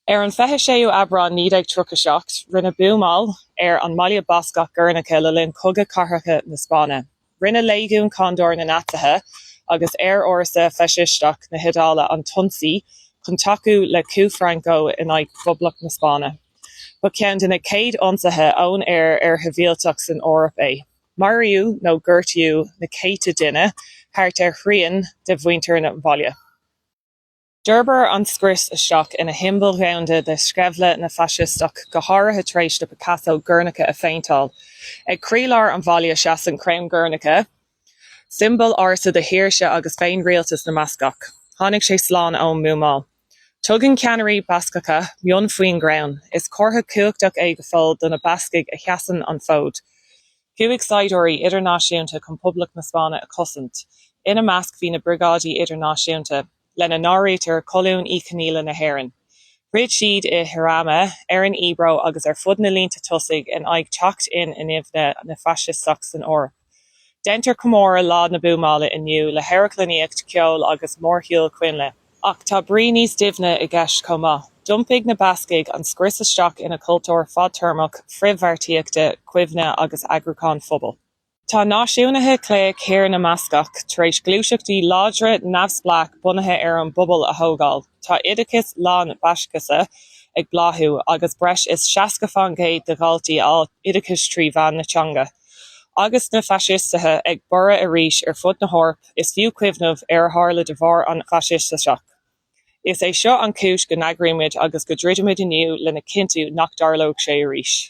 Ar an 26ú Aibreán 1937, rinneadh buamáil ar an mbaile Bascach Gernika le linn Chogadh Cathartha na Spáinne. Rinne Léigiún Condor na Naitsithe agus aerfhórsa faisisteach na hIodáile an t-ionsaí chun tacú le coup Franco in aghaidh Phoblacht na Spáinne. Ba cheann de na chéad ionsaithe ón aer ar shibhialtaigh san Eoraip é. Maraíodh nó gortaíodh na céadta duine, thart ar thrian de mhuintir an bhaile. D'fhorbair an scrios isteach ina shiombail dhomhanda de sceimhle na bhfaisisteach, go háirithe tar éis do Picasso Guernica a phéinteáil. Ag croílár an bhaile seasann Crann Guernica, siombail ársa de shaoirse agus féinrialtas na mBascach. Tháinig sé slán ón mbuamáil. Tugann ceannairí Bascacha mionn faoin gcrann, is comhartha cumhachtach é go fóill do na Bascaigh a sheasann an fód. Chuaigh saighdiúirí idirnáisiúnta chun Poblacht na Spáinne a chosaint. Ina measc bhí na Briogáidí Idirnáisiúnta. lena n-áirítear Colún Uí Chonghaile na hÉireann. Throid siad i Jarama, ar an Ebro agus ar fud na línte tosaigh in aghaidh teacht in inmhe na faisisteach san Eoraip. Déantar comóradh Lá na Buamála inniu le hamharclannaíocht, ceol agus mórshiúl coinnle. Ach tá brí níos doimhne i gceist chomh maith. D'iompaigh na Bascaigh an scrios isteach ina cultúr fadtéarmach frithbheartaíochta, cuimhne agus eagrúcháin phobail. Tá náisiúnaithe clé Thír na mBascach tar éis gluaiseachtaí láidre neamhspleách bunaithe ar an bpobal a thógáil. Tá oideachas lán-Bhaiscise ag bláthú agus breis is 60 fán gcéad de dhaltaí ag fáil oideachais trí mheán na teanga. Agus na faisisteithe ag borradh arís ar fud na hEorpa, is fiú cuimhneamh ar a tharla de bharr an faisisteachais. Is é seo an chúis go n-eagraímid agus go dtroidimid inniu lena chinntiú nach dtarlóidh sé arís.